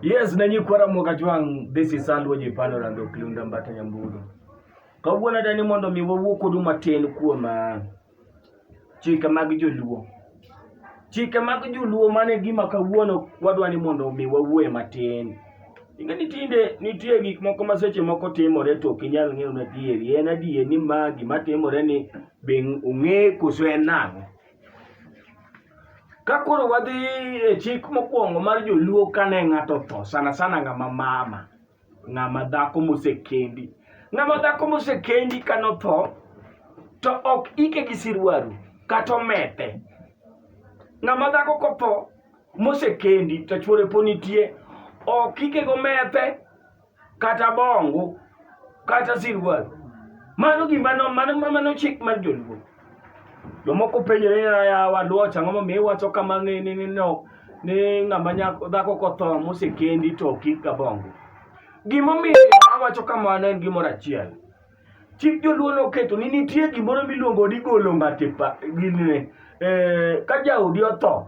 Yes, na nyikwa Ramoka Jwang', this is Andrew Jipando Rando Kliunda Mbata Nyambudo. Kawuono adani mondo mi wawuo kodu matin kuom ah, chike mag joluo. Chike mag joluo mane gima kawuono wadwa ni mondo mi wawuoe matin. Inge ni tinde nitie gik moko ma seche moko timore to ok inyal ng'eyo na adieri. En adier ni ma gima timore ni be ong'e koso en nang'o. Ka koro wadhi e chik mokwongo mar joluo kane ng'ato otho sana sana ng'ama mama ng'ama dhako mosekendi ng'ama dhako mosekendi kane otho to ok ike gi sirwaru kata omete ng'ama dhako kotho mosekendi to chuore po nitie ok ike gomete kata bongu kata silwal mano gima no- mano mano chik mar joluo jomoko penjore ni ya waluoch ang'o momiyo iwacho kama ni ni ni no ni ng'ama nyako dhako kotho mosekendi to kik gabongo gimomiyo awacho kamano en gimoro achiel chik joluo noketo ni nitie gimoro miluongo ni golo ng'ato e pa- gine eh, ka jaodi otho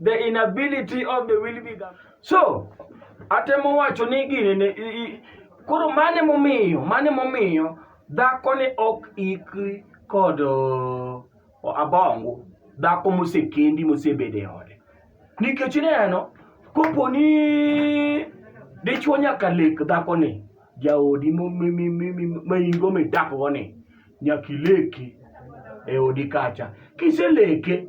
The inability of the will be governed. So, atemo wacho ni gini ne i- i- koro mane momiyo mane momiyo dhako ne ok ikri kod uh, abongo dhako mosekendi mosebedo e ode nikech ineno kopo ni dichwo nyaka lek dhako ni jaodi mo- mi- mi- mi- mi- ma ingo midakogo ni nyaka ileki e odi kacha kiseleke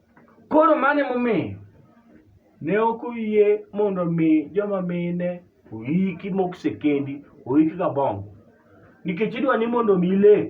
Koro mano emomiyo ne ok oyie mondo omi joma mine oiki mosekendi oik gabongo nikech idwa ni mondo omi ilek